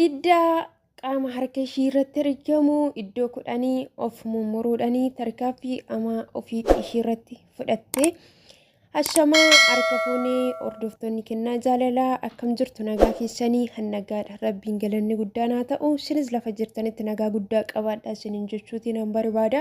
Iddaa qaama harka ishii irratti argamu iddoo kudhanii of mummuruudhanii tarkaaffii amaa ofii ishii irratti fudhatte. Ashamaa harka fuunee hordoftoonni kennaa jaalalaa akkam jirtu nagaa keessanii hannagaadha rabbiin galanni guddaan haa ta'u isinis lafa jirtanitti nagaa guddaa qabaadha isinin jechuutiin an barbaada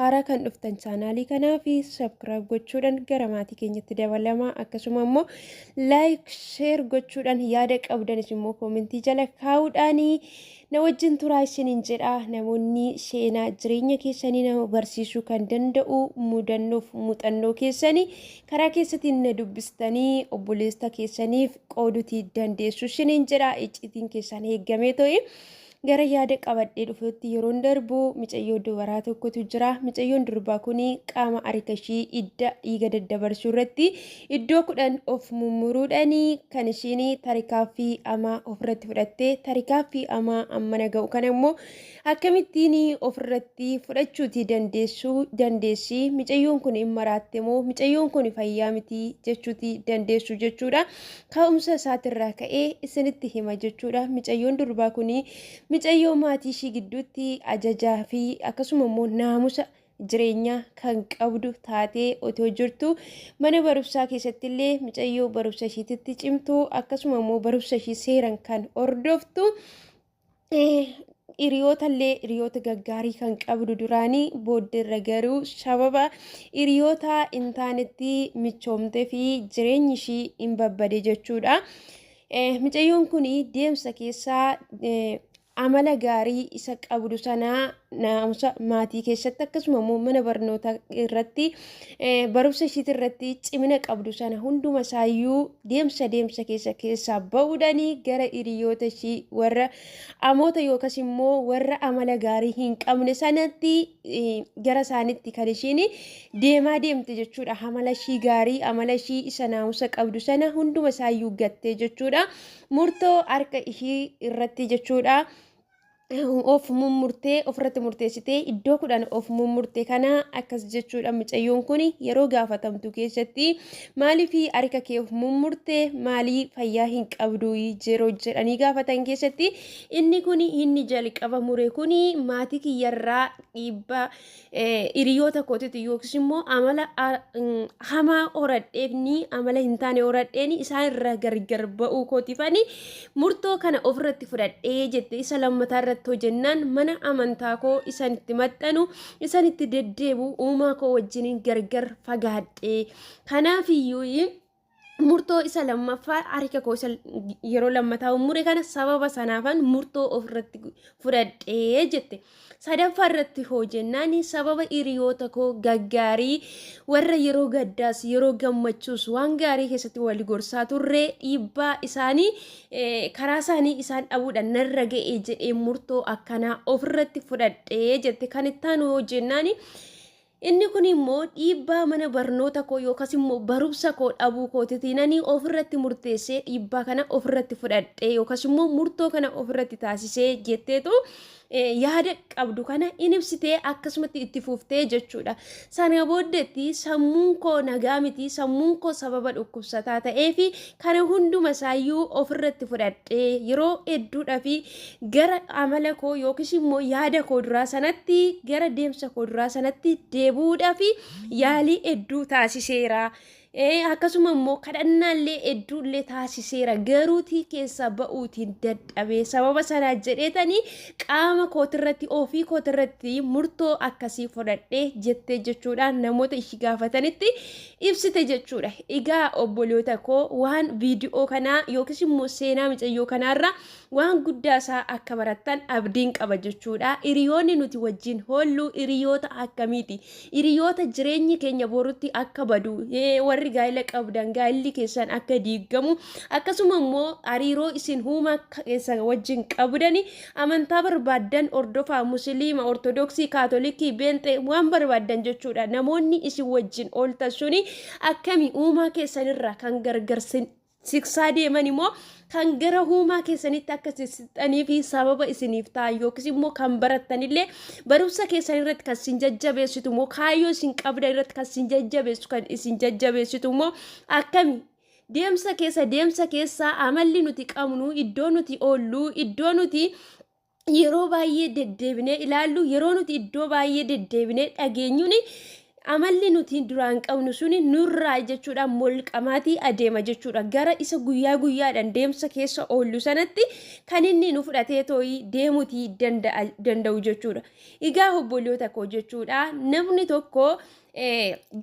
haaraa kan dhuftan chaanaalii kanaa fi sabkiraayib gochuudhaan gara maatii keenyatti dabalamaa akkasuma immoo like share gochuudhaan yaada qabdanis immoo koomentii jala kaa'uudhaanii na wajjin turaa isiniin jedha namoonni seenaa jireenya keessanii nama barsiisuu kan danda'u mudannoof muuxannoo keessanii karaa keessatiin na dubbistanii obboleessa keessaniif qoodutii dandeessu isiniin jedha iccitiin keessan eeggamee ta'e. Gara yaada qabadhee dhufuutti yeroon darbu micayyoo dubaraa tokkotu jira. Micayyoon durbaa kun qaama harka ishii idda dhiiga daddabarsuu irratti iddoo kudhan of mummuruudhaan kan ishiin tarikaaffii amaa ofirratti fudhatte tarikaaffii amaa ammana ga'u kana immoo akkamittiin ofirratti fudhachuuti dandeessuu dandeessi. Micayyoon kun hin maraatte moo micayyoon kun fayyaa miti jechuuti dandeessu jechuudha. Ka'umsa isaatirraa ka'ee isinitti hima jechuudha. Micayyoon durbaa kun micayyoo maatii ishii gidduutti ajajaa fi akkasuma immoo naamusa jireenyaa kan qabdu taatee otoo jirtu mana barumsaa keessatti illee micayyoo barumsa ishiititti cimtu akkasuma immoo barumsa ishii seeran kan hordoftu hiriyoota illee hiriyoota gaggaarii kan qabdu duraanii booddeerra garuu sababa hiriyoota hin taanetti michoomtee fi jireenyi ishii hin babbade jechuudha. Micayyoon kun deemsa keessaa amala gaarii isa qabdu sana naamusa maatii keessatti akkasuma immoo mana barnootaa irratti barumsa ishiitii irratti cimina qabdu sana hunduma isaayyuu deemsa deemsa keessa keessaa ba'uudhaanii gara hiriyoota ishii warra amoota yookas immoo warra amala gaarii hin qabne sanatti gara isaanitti kan ishiin deemaa deemte jechuudha amala ishii gaarii amala ishii isa naamusa qabdu sana hunduma isaayyuu gattee jechuudha murtoo harka ishii irratti jechuudha. of mummurtee ofirratti murteessitee iddoo kudhan of mummurte kana akkas jechuudha mucayyoon kun yeroo gaafatamtu keessatti maaliif harka kee of mummurte maalii fayyaa hin qabdu yeroo jedhanii gaafatan keessatti inni kun inni jalqaba mure kun maatii kiyyarraa dhiibbaa hiriyoota kootiitu yookiis immoo amala hamaa horadheefni amala hin taane horadheeni isaan irraa gargar ba'uu kootiifani murtoo kana ofirratti fudhadhee jette isa lammataa irratti hojennaan mana amantaa koo isaan itti maxxanu isaan itti deddeebu uumaa koo wajjiniin gargar fagaadhee kanaafiyyuu murtoo isa lammaffaa harka koo isa yeroo lammataa mure kana sababa sanaafan murtoo ofirratti fudhadhee jette. Sadaffaa irratti hoo jennaan sababa hiriyoota koo gaggaarii warra yeroo gaddaas yeroo gammachuus waan gaarii keessatti wal gorsaa turre dhiibbaa isaanii karaa isaanii isaan dhabuudhaan narra ga'ee jedhee murtoo akkanaa ofirratti fudhadhee jette. Kan itti aanu hoo jennaan Inni kun immoo dhiibbaa mana barnoota koo yookas immoo barumsa koo dhabuu kootitii nani ofirratti murteessee dhiibbaa kana ofirratti fudhadhee yookas immoo murtoo kana ofirratti taasisee jetteetu yaada qabdu kana in ibsitee akkasumatti itti fuftee jechuudha. Sana booddeetti sammuun koo nagaa miti sammuun koo sababa dhukkubsataa ta'ee fi kana hunduma isaayyuu ofirratti fudhadhee yeroo hedduudha fi gara amala koo yookiis immoo yaada koo duraa sanatti gara deemsa koo duraa sanatti deebi'uudhaaf yaalii hedduu taasiseera. Eh, akkasuma immoo kadhannaallee hedduullee taasiseera garuutii keessaa ba'uutiin dadhabee sababa sanaa jedheetanii qaama kootirratti ofii kootirratti murtoo akkasii fudhadhee jettee jechuudhaan namoota ishii gaafatanitti ibsite jechuudha. Egaa obboloota koo waan viidiyoo kanaa yookiis immoo seenaa micayyoo kanaarra Waan guddaa isaa akka barattan abdiin qaba jechuudha. Hiriyoonni nuti wajjin hoollu hiriyoota akkamiiti? Hiriyoota jireenyi keenya borutti akka badu, warri gaa'ila qabdan gaa'illi keessan akka diigamu, akkasuma immoo hariiroo isin huuma keessa wajjin qabdani amantaa barbaaddan hordofaa musiliima, ortodoksii, kaatolikii, beenxee waan barbaaddan jechuudha. Namoonni isin wajjin ooltan suni akkami uumaa keessanirraa kan gargarsin siksaa deeman immoo kan gara huumaa keessanitti akka sissixxanii fi sababa isiniif ta'an yookiis immoo kan barattanillee barumsa keessan irratti kan isin jajjabeessitu immoo kaayyoo isin qabdan irratti kan isin jajjabeessu kan isin jajjabeessitu immoo akkami deemsa keessa deemsa keessa amalli nuti qabnu iddoo nuti oollu iddoo nuti yeroo baay'ee deddeebinee ilaallu yeroo nuti iddoo baay'ee deddeebinee dhageenyuun amalli nuti duraan qabnu suni nurraa jechuudha molqamaatii adeema jechuudha gara isa guyyaa guyyaadhaan deemsa keessa oollu sanatti kan inni nu fudhatee too'ii deemutii danda'u jechuudha. Egaa obboloota koo jechuudha namni tokko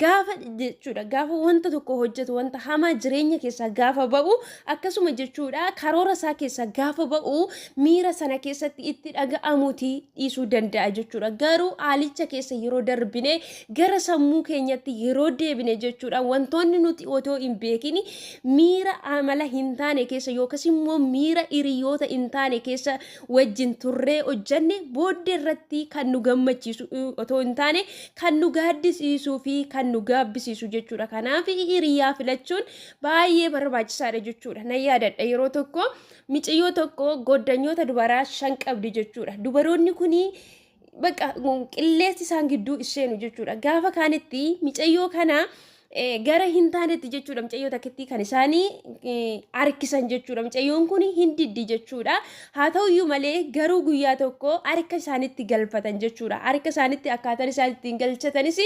gaafa jechuudha gaafa wanta tokko hojjetu wanta hamaa jireenya keessaa gaafa ba'u akkasuma jechuudha karoora isaa keessaa gaafa ba'u miira sana keessatti itti dhaga'amuti dhiisuu danda'a jechuudha garuu haalicha keessa yeroo darbine gara sammuu keenyatti yeroo deebine jechuudha wantoonni nuti otoo hin beekin miira amala hin taane keessa yookas immoo miira hiriyoota hin taane keessa wajjin turree hojjenne booddee irratti kan nu gammachiisu otoo hin taane kan nu gaaddisiisuu fi kan nu gaabbisiisu jechuudha. Kanaaf hiriyaa filachuun baay'ee barbaachisaadha jechuudha. Nan yaadadha yeroo tokko miciyyoo tokko goddanyoota dubaraa shan qabdi jechuudha. Dubaroonni kun baqa qilleensi isaan gidduu isheenu jechuudha. Gaafa kaanitti micayyoo kana gara hin taanetti jechuudha mucayyoo takkittii kan isaanii harkisan jechuudha mucayyoon kun hin diddi jechuudha haa ta'uyyuu malee garuu guyyaa tokko harka isaanitti galfatan jechuudha harka isaanitti akkaataan isaan ittiin galchatanis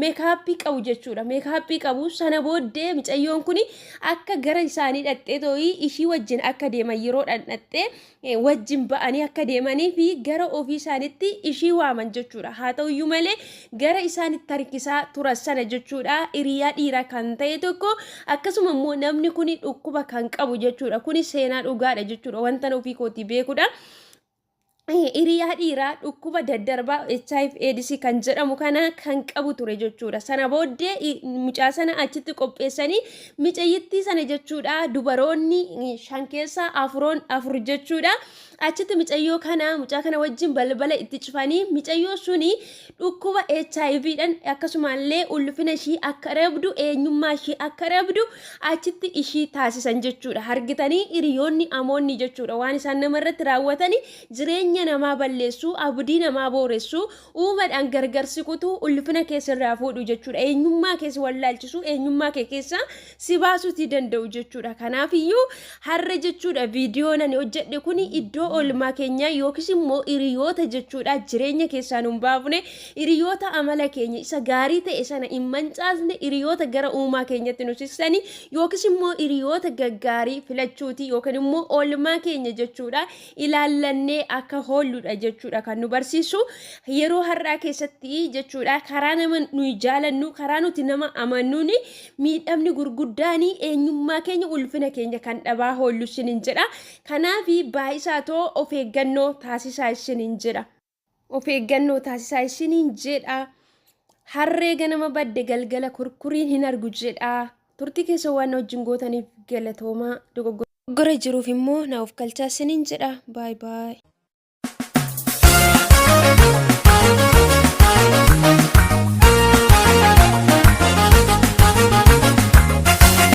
meekaappii qabu jechuudha meekaappii qabu sana booddee mucayyoon kun akka gara isaanii dhaqxee too'ii ishii wajjin akka deeman yeroo dhandhaxxee wajjin ba'anii akka deemanii fi gara ofii isaanitti ishii waaman jechuudha. Haa ta'u iyyuu malee gara isaan itti harkisaa turan sana jechuudha hiriyaa dhiiraa kan ta'e tokko akkasuma immoo namni kun dhukkuba kan qabu jechuudha. Kun seenaa dhugaadha jechuudha wanta ofii kootii beekudha. Hiriyaa dhiiraa dhukkuba daddarbaa HIV AIDS kan jedhamu kana kan qabu ture jechuudha. Sana booddee mucaa sana achitti qopheessanii Micayyittii sana jechuudha dubaroonni shan keessaa afuroon afur jechuudha. Achitti micayyoo kana mucaa kana wajjin balbala itti cufanii micayyoo suni dhukkuba HIV dhan akkasumallee ulfina ishii akka rabdu eenyummaa ishii akka rabdu achitti ishii taasisan jechuudha. Hargitanii hiriyoonni amoonni jechuudha waan isaan nama irratti raawwatanii jireenya namaa balleessuu abdii namaa booressuu Uumadhaan gargar si kutuu, ulfina kee sirraa fuudhu jechuudha. Eenyummaa kee si wallaalchisuu, eenyummaa kee keessaa si baasuutii danda'u jechuudha. Kanaafiyyuu har'a jechuudha viidiyoon ani hojjedhe kun iddoo oolmaa keenyaa yookiis immoo hiriyoota jechuudha jireenya keessaa nun baafne hiriyoota amala keenya isa gaarii ta'e sana hin mancaasne hiriyoota gara uumaa keenyatti nu sissani yookiis immoo hiriyoota gaggaarii filachuuti yookiin immoo oolmaa keenya jechuudha ilaallannee akka hoolluudha jechuudha kan nu barsiisu yeroo har'aa keessatti jechuudha karaa nama nuyi jaalannu karaa nuti nama amannuun miidhamni gurguddaan eenyummaa keenya ulfina keenya kan dhabaa hoollu isiniin jedha kanaaf baay'isaa too of eeggannoo taasisaa isiniin jedha. Of eeggannoo taasisaa isiniin jedha. Harree ganama badde galgala kurkuriin hin argu jedha. Turtii keessa waan na wajjin gootaniif galatoomaa. Dogoggora jiruuf immoo na of galchaa isiniin jedha. Baay baay.